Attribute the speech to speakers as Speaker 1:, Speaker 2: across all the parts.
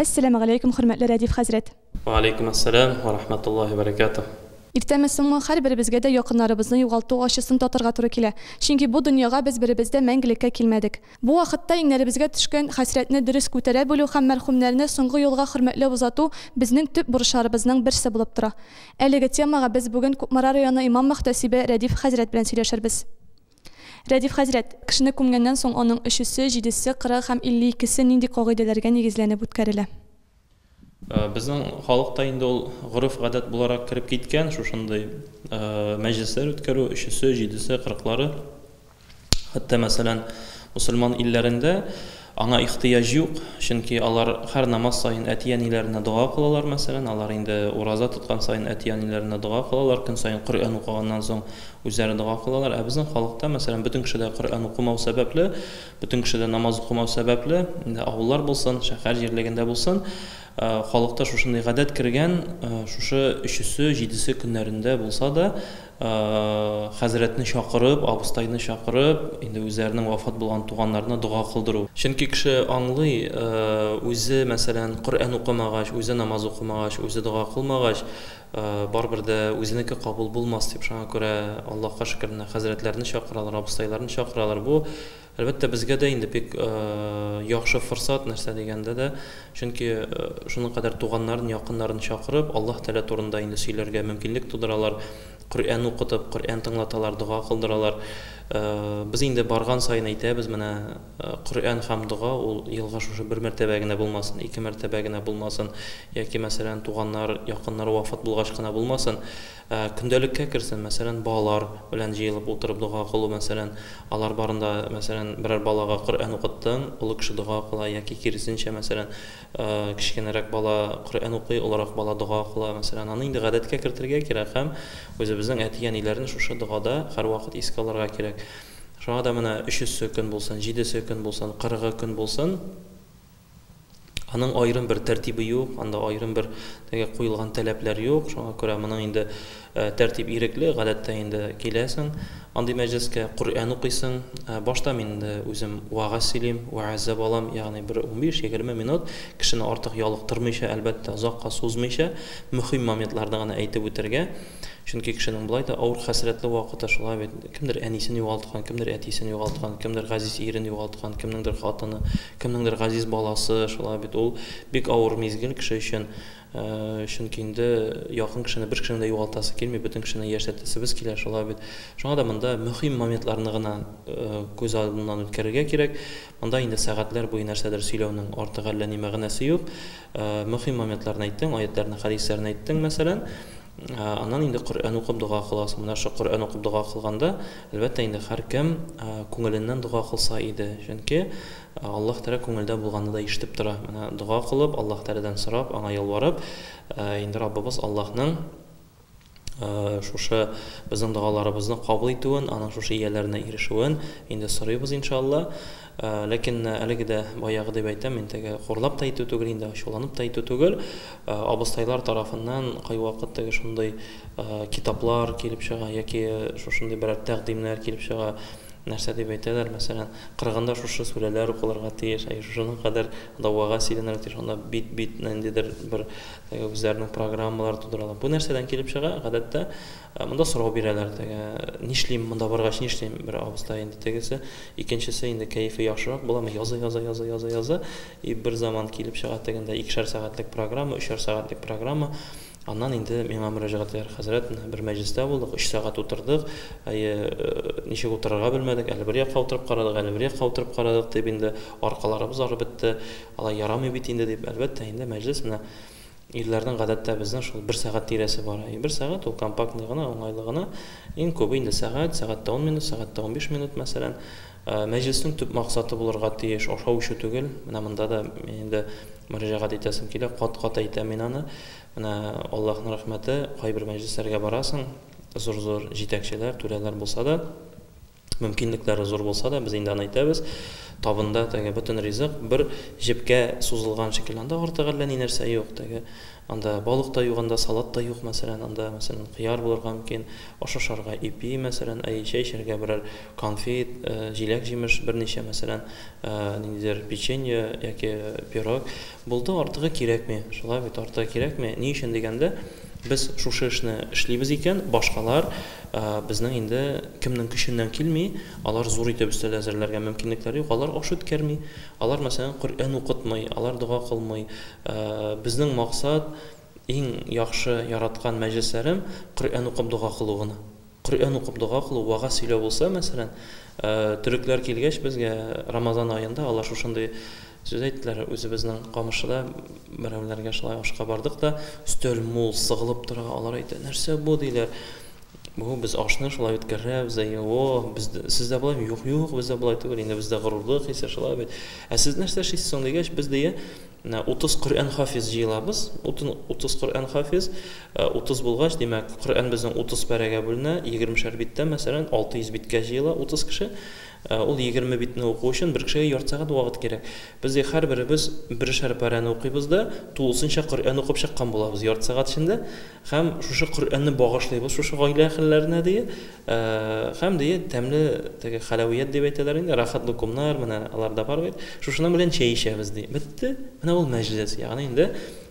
Speaker 1: Әссәламегаләйкүм хөрмәтле Рәдиф хәзрәт! Вәгаләйкүм әссәлам
Speaker 2: вә рахмәтуллаһи вә бәрәкәтүһ! Иртәме-соңмы,
Speaker 1: һәрберебезгә дә якыннарыбызны югалту ачысын татырга туры килә. Чөнки бу дөньяга без беребез дә мәңгелеккә килмәдек. Бу вакытта иңнәребезгә төшкән хәсрәтне дөрес күтәрә белү һәм мәрхүмнәрне соңгы юлга хөрмәтләп озату безнең төп бурычларыбызның берсе булып тора. Әлеге темага без бүген Кукмара районы имам-мөхтәсибе Рәдиф хәзрәт белән сөйләшербез. Рәдиф хәзрәт, кешене күмгәннән соң аның өчесе, җидесе, кырыгы һәм илле икесе нинди кагыйдәләргә нигезләнеп үткәрелә?
Speaker 2: Безнең халыкта инде ул гореф-гадәт буларак кереп киткән, шушындый мәҗлесләр үткәрү, өчесе, җидесе, кырыклары. Хәтта, мәсәлән, мөселман илләрендә Аңа ихтыяҗ юк, чөнки алар һәр намаз саен әти-әниләренә дога кылалар, мәсәлән, алар инде ураза тоткан саен әти-әниләренә дога кылалар, көн саен Коръән укыганнан соң үзләре дога кылалар. Ә безнең халыкта, мәсәлән, бөтен кеше дә Коръән укымау сәбәпле, бөтен кеше дә намаз укымау сәбәпле, инде авыллар булсын, шәһәр җирлегендә булсын, халыкта шушындый гадәт кергән, шушы өчесе, җидесе көннәрендә булса да, Хәзрәтне чакырып, абыстайны чакырып, инде үзләренең вафат булган туганнарына дога кылдыру. Чөнки кеше аңлый, үзе, мәсәлән, Коръән укымагач, үзе намаз укымагач, үзе дога кылмагач, барыбер дә үзенеке кабул булмас дип, шуңа күрә Аллаһка шөкер, менә хәзрәтләрне чакыралар, абыстайларны чакыралар. Бу Әлбәттә, безгә дә инде бик яхшы форсат, нәрсә дигәндә дә, чөнки шуның кадәр туганнарын, якыннарын чакырып, Аллаһ Тәгалә турында инде сөйләргә мөмкинлек тудыралар, Коръән укытып, Коръән тыңлаталар, дога кылдыралар. Без инде барган саен әйтәбез, менә Коръән һәм дога ул елга шушы бер мәртәбә генә булмасын, ике мәртәбә генә булмасын, яки, мәсәлән, туганнар, якыннар вафат булгач кына булмасын. Ә көндәлеккә керсәм, мәсәлән, балалар белән җыелып утырып дога кылу, мәсәлән, алар барында, мәсәлән, берәр балага Коръән укыттың, олы кеше дога кыла, яки киресенчә, мәсәлән, кечкенәрәк бала Коръән укый, олырак бала дога кыла, мәсәлән, аны инде гадәткә кертергә кирәк һәм үзебезнең әти-әниләрне шушы догада һәрвакыт искә алырга кирәк. Шуңа да менә өчесе көн булсын, җидесе көн булсын, кырыгы көн булсын, Аның аерым бер тәртибе юк, анда аерым бер теге куелган таләпләр юк. Шуңа күрә моның инде э, тәртип ирекле, гадәттә инде киләсең андый мәҗлескә, Коръән укыйсың. Э, башта мин инде үзем вагаз сөйлим, вәгазә балам, ягъни бер 15-20 минут кешене артык ялыктырмыйча, әлбәттә, озакка сузмыйча, мөһим моментларны гына әйтеп үтәргә. Чөнки кешенең болай да авыр хәсрәтле вакыты шулай бит. Кемдер әнисен югалткан, кемдер әтисен югалткан, кемдер газиз ирен югалткан, кемнеңдер хатыны, Кемнеңдер газиз баласы, шулай бит. Ул бик авыр мизгел кеше өчен. Чөнки инде якын кешене, бер кешене дә югалтасы килми, бөтен кешене яшәтәсебез килә, шулай бит. Шуңа да монда мөһим моментларны гына күз алдыннан үткәрергә кирәк. Монда инде сәгатьләр буе нәрсәдер сөйләүнең артык әллә ни мәгънәсе юк. Мөһим моментларны әйттең, аятьләрне, хәдисләрне әйттең, мәсәлән. Аннан инде Коръән укып дога кыласың. Менә шул Коръән укып дога кылганда, әлбәттә инде һәркем күңеленнән дога кылса иде. Чөнки Аллаһ Тәгалә күңелдә булганны да ишетеп тора. Менә дога кылып, Аллаһ Тәгаләдән сорап, аңа ялварып, инде Раббыбыз Аллаһның шушы безнең догаларыбызны кабул итүен, аның шушы ияләренә ирешүен инде сорыйбыз, иншалла. Ләкин әлеге дә баягы дип әйтәм, мин теге хурлап та әйтү түгел инде, ачуланып та әйтү түгел, абыстайлар тарафыннан кайвакыт теге шундый китаплар килеп чыга яки шушындый берәр тәкъдимнәр килеп чыга, нәрсә дип әйтәләр, мәсәлән, кырыгында шушы сүрәләр укылырга тиеш, әйе, шушының кадәр давага сөйләнергә тиеш, анда бит, бит, ниндидер бер теге үзләренең программалар тудыралар. Бу нәрсәдән килеп чыга, гадәттә, Ә монда сорау бирәләр теге, нишлим, монда баргач нишлим, бер абыстай инде тегесе, икенчесе инде кәефе яхшырак була, яза, яза, яза, яза, яза, и бер заман килеп чыга тегендә икешәр сәгатьлек программа, өчәр сәгатьлек программа, аннан инде миңа мөрәҗәгать итәр, хәзрәт, менә бер мәҗлестә булдык, өч сәгать утырдык, әйе, ничек утырырга белмәдек, әле бер якка утырып карадык, әле бер якка утырып карадык, дип инде аркаларыбыз арып бетте, алай ярамый бит инде, дип, әлбәттә инде мәҗлес менә Ирләрнең гадәттә безнең шул бер сәгать тирәсе бар. Әй, бер сәгать ул компактный гына, уңайлы гына. Иң күбе инде сәгать, сәгать тә ун минут, сәгать тә унбиш минут, мәсәлән. Мәҗлеснең төп максаты булырга тиеш, ашау-эчү түгел. Менә монда да инде мөрәҗәгать итәсем килә, кат-кат әйтәм мин аны. Менә Аллаһның рәхмәте, кайбер мәҗлесләргә барасың, зур-зур җитәкчеләр, түрәләр булса да, Мөмкинлекләре зур булса да, без инде аны әйтәбез, табында теге бөтен ризык бер җепкә сузылган шикелле. Анда артык әллә ни нәрсә юк. Теге анда балык та юк, анда салат та юк, мәсәлән, анда, мәсәлән, кыяр булырга мөмкин, аш ашарга ипи, мәсәлән, әйе, чәй эчәргә берәр конфит, җиләк-җимеш берничә, мәсәлән, ниндидер печенье яки пирог. Булды, артыгы кирәкми. Шулай бит, артыгы кирәкми. Ни өчен дигәндә, без шушы эшне эшлибез икән, башкалар безнең инде кемнең көченнән килми, алар зур итеп өстәл әзерләргә мөмкинлекләре юк, алар аш үткәрми, алар, мәсәлән, Коръән укытмый, алар дога кылмый. Безнең максат, иң яхшы яраткан мәҗлесләрем Коръән укып дога кылу гына. Коръән укып дога кылу, вәгазь сөйләү булса, мәсәлән, төрекләр килгәч безгә Рамазан аенда алар шушындый сүз әйттеләр, үзебезнең Камышлыда берәүләргә шулай ашка бардык та, өстәл мул, сыгылып тора, алар әйтә, нәрсә бу, диләр. Бу без ашны шулай үткәрәбез, әйе, о, без сездә болай, юк, юк, бездә болай түгел, инде бездә горурлык хисе шулай бит. Ә сез нәрсә эшлисез соң дигәч, без дия, Менә утыз Коръән хафиз җыелабыз. Утын, утыз Коръән хафиз. Ә, утыз булгач, димәк, Коръән безнең утыз пәрәгә бүленә, егермешәр биттән, мәсәлән, алты йөз биткә җыела утыз кеше. Ә, ул егерме битне уку өчен бер кешегә ярты сәгать вакыт кирәк. Без дә һәрберебез берешәр пәрәне укыйбыз да, тулысынча Коръән укып чыккан булабыз ярты сәгать эчендә. Һәм шушы Коръәнне багышлыйбыз шушы гаилә әһелләренә, ди. Һәм, ди, тәмле теге хәләвият дип әйтәләр инде, рәхәт лукумнар, менә алар да бар бит, шушының белән чәй эчәбез, ди. Бетте. Менә ул мәҗлес. Ягъни инде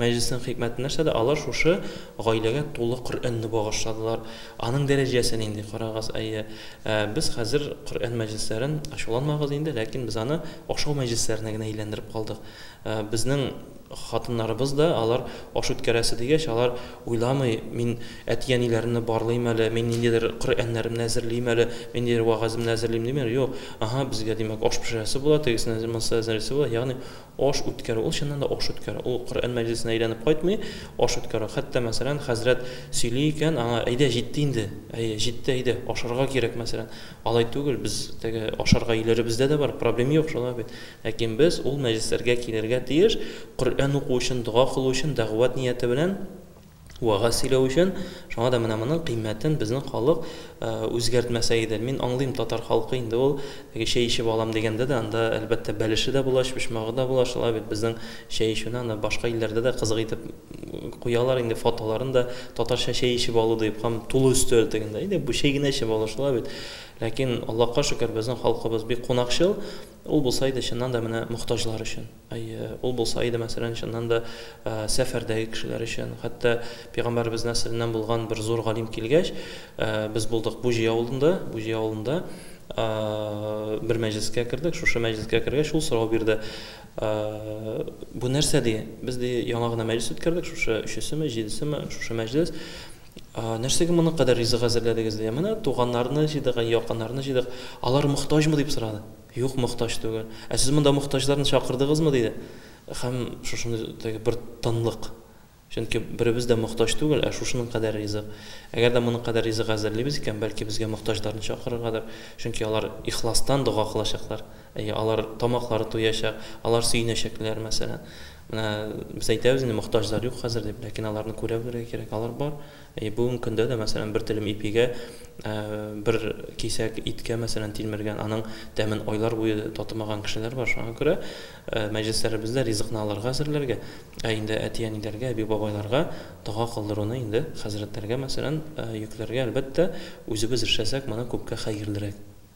Speaker 2: мәҗлеснең хикмәте нәрсәдә? Алар шушы гаиләгә тулы Коръәнне багышладылар. Аның дәрәҗәсе нинди, карагыз, әйе. Ә без хәзер Коръән мәҗлесләрен, ачуланмагыз инде, ләкин без аны ашау мәҗлесләренә генә әйләндереп калдык. Безнең хатыннарыбыз да, алар аш үткәрәсе дигәч, алар уйламый, мин әти-әниләремне барлыйм әле, мин ниндидер Коръәннәремне әзерлим әле, мин ниндидер вәгаземне әзерлим димиләр, юк, аһа, безгә, димәк, аш пешерәсе була, тегесенә, монысына әзерлисе була, ягъни аш үткәрү, ул чыннан да аш үткәрү, ул Коръән мәҗлесенә әйләнеп кайтмый, аш үткәрү. Хәтта, мәсәлән, хәзрәт сөйли икән, аңа, әйдә, җитте инде, әйе, җитте, әйдә, ашарга кирәк, мәсәлән. Алай түгел, без теге ашарга өйләребездә дә бар, проблем юк, шулай бит. Ләкин без ул мәҗлесләргә килергә тиеш, Коръән уку өчен, дога кылу өчен, дәгъват нияте белән вәгазь сөйләү өчен. Шуңа да менә моның кыйммәтен безнең халык үзгәртмәсә иде. Мин аңлыйм, татар халкы инде ул, теге чәй эчеп алам дигәндә дә, анда, әлбәттә, бәлеше дә була, чпочмагы да була, шулай бит, безнең чәй эчүне аны башка илләрдә дә кызык итеп куялар инде, фотоларын да, татарча чәй эчеп алу дип, һәм тулы өстәл тегендә, әйдә, бу чәй генә эчеп алыш, шулай бит. Ләкин, Аллаһка шөкер, безнең халкыбыз бик кунакчыл. Ул булса иде, чыннан да, менә мохтаҗлар өчен. Әйе, ул булса иде, мәсәлән, чыннан да, сәфәрдәге кешеләр өчен. Хәтта Пәйгамбәребез нәселеннән булган бер зур галим килгәч, без булдык Буҗи авылында, Буҗи авылында бер мәҗлескә кердек. Шушы мәҗлескә кергәч, ул сорау бирде. Бу нәрсә, ди? Без, ди, яңа гына мәҗлес үткәрдек, шушы өчесеме, җидесеме, шушы мәҗлес. Нәрсәгә моның кадәр ризык әзерләдегез? диде. Менә туганнарны җыйдык, якыннарны җыйдык. Алар мохтаҗмы? дип сорады. Юк, мохтаҗ түгел. Ә сез монда мохтаҗларны чакырдыгызмы? диде. Һәм шушындый бер тынлык. Чөнки беребез дә мохтаҗ түгел, ә шушының кадәр ризык. Әгәр дә моның кадәр ризык әзерлибез икән, бәлки безгә мохтаҗларны чакырыргадыр, чөнки алар ихластан дога кылачаклар. Әйе, алар тамаклары туячак, алар сөенәчәкләр, мәсәлән. Менә без әйтәбез инде, мохтаҗлар юк хәзер дип, ләкин аларны күрә белергә кирәк, алар бар. Әйе, бүгенге көндә дә, мәсәлән, бер телем ипигә, бер кисәк иткә, мәсәлән, тилмергән, аның тәмен айлар буе татымаган кешеләр бар. Шуңа күрә мәҗлесләребездә ризыкны аларга әзерләргә, ә инде әти-әниләргә, әби-бабайларга дога кылдыруны инде хәзрәтләргә, мәсәлән, йөкләргә, әлбәттә, үзебез эшләсәк, моны күпкә хәерлерәк.